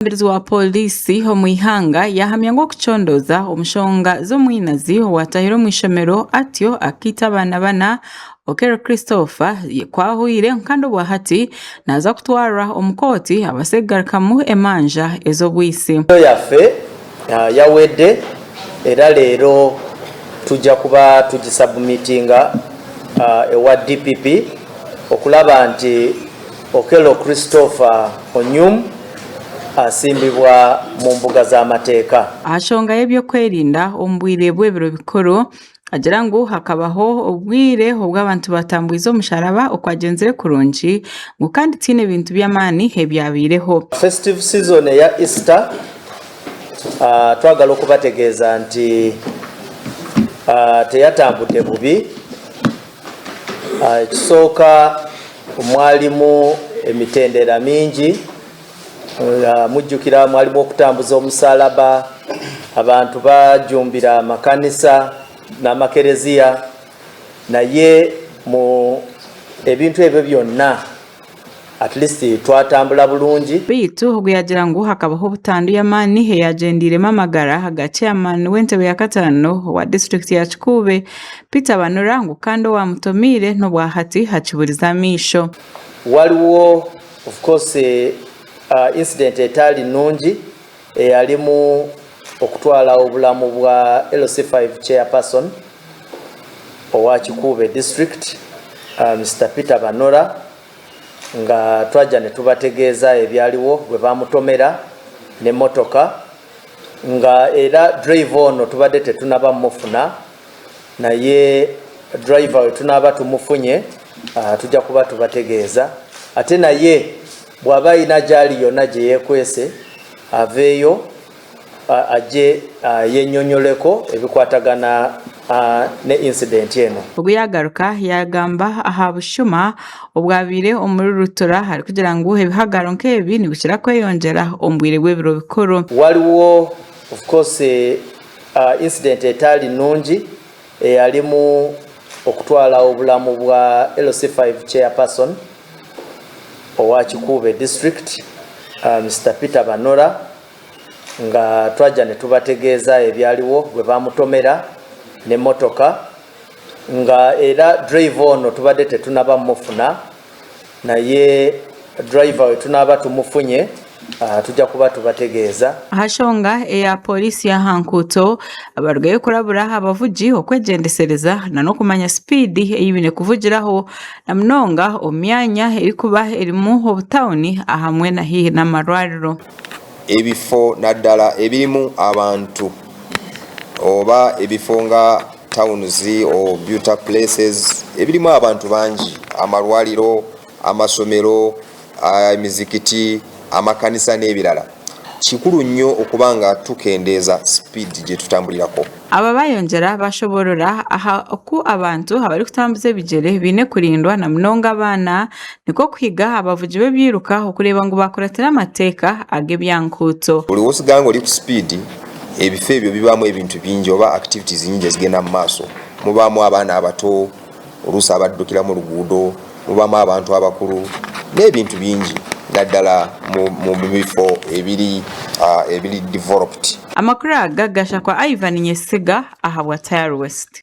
Omwebembezi wa pooriisi omu ihanga yahamya ngu okucondooza omu nshonga z'omwinazi owaatahire omu ishomero atyo akaita abaana bana, Okello Christopher, kwahwire kandi obwahati naaza kutwarwa omu kooti abaase kugarukamu emanja ez'obwisi. Enkizo yaffe yawedde era leero tujja kuba tugisabumitinga ewa DPP okulaba nti Okello Christopher Onyum asimbibwa mu mbuga z'amateeka. Aha nshonga y'eby'okwerinda omu bwire bw'ebiro bikuru, agira ngu hakabaho obwire obu abantu baatambwize omusharaba okwagyenzire kurungi ngu kandi tihaine bintu by'amaani ebyabaireho. Festive season eya Easter twagala okubategeeza nti teyatambude bubi Aha kisooka mwarimu emitendera mingi, mujukira mwarimu okutambuza omusaraba, abantu bajumbira amakanisa n'amakereziya, naye ebintu ebyo byona. At least twatambura burungi. Beitu obwo yagira ngu hakabaho butandu yamani eyagyendeiremu amagara ga chairman wentebe ya kataano owa district ya kikuube Peter Banura ngu kandi owamutomeire nobwahati hakiburize amaisho. Waliwo of course incident etari nungi. eyarimu okutwara oburamu bwa LC five chairperson owa Kikuube district Mister Peter Banora nga twagira nitubategeeza ebyariwo bwe bamutomera n'emotoka nga era driver ono tubade tetunabamu mufuna. naye driver wetu naba tumufunye aha tujya kuba tubategeeza ate naye bwaba aine agyari ari yona agye yekwese aveyo agye ayeyonyoleko ebikwatagana ne incident eno. Ogu yagaruka yagamba aha bushuma obwabaire omuri Rutura arikugira ngu ebihagaro nk'ebi nibikira kweyongyera omu bwire bw'ebiro bikuru. Waliwo of course Aha incident etaari nungi eyarimu okutwara obulamu bwa LC five chairperson owa Kikuube district Mister Peter Banora nga twagira nitubategeeza ebyariwo bwe bamutomera n'emotoka nga era driver ono tubadde tetunabamu mufuna. naye driver wetu naba tumufunye aha tugya kuba tubategeeza. Aha nshonga eya Pooriisi y'aha nkuuto, abarugayo kurabura abavugi okwegyendesereza nana okumanya sipiidi ei baine kuvugiraho na munonga omu myanya erikuba erimu obutawuni ahamwe na haihi n'amarwariro. Ebifo nadala ebirimu abantu oba ebifo nga Tawunizi, Beauty places, ebirimu abantu bangi, amarwariro, amashomero, emizikiti, amakanisa n'ebirala. Kikuru nnyo okuba nga tukendeeza sipiidi gye tutamburiraho. Aba baayongyera baashoboorora aha ku abantu abarikutambuza ebigyere baine kurindwa na munonga abaana, nikwo kuhiga abavugi b'ebyiruka okureeba ngu baakuratira amateeka ag'ebyankuuto. Buri w'otsiga ngu ori ku sipiidi Ebifo ebyo bibaamu ebintu bingi oba activities nyingi ezigenda mu maaso. Mubaamu abaana abato, oluusi abadukira mu ruguudo, mubaamu abantu abakuru n'ebintu bingi naddala mu bifo ebiri developed. Amakuru aga gashakwa Ivan Nyesiga ahabwa Tirewest.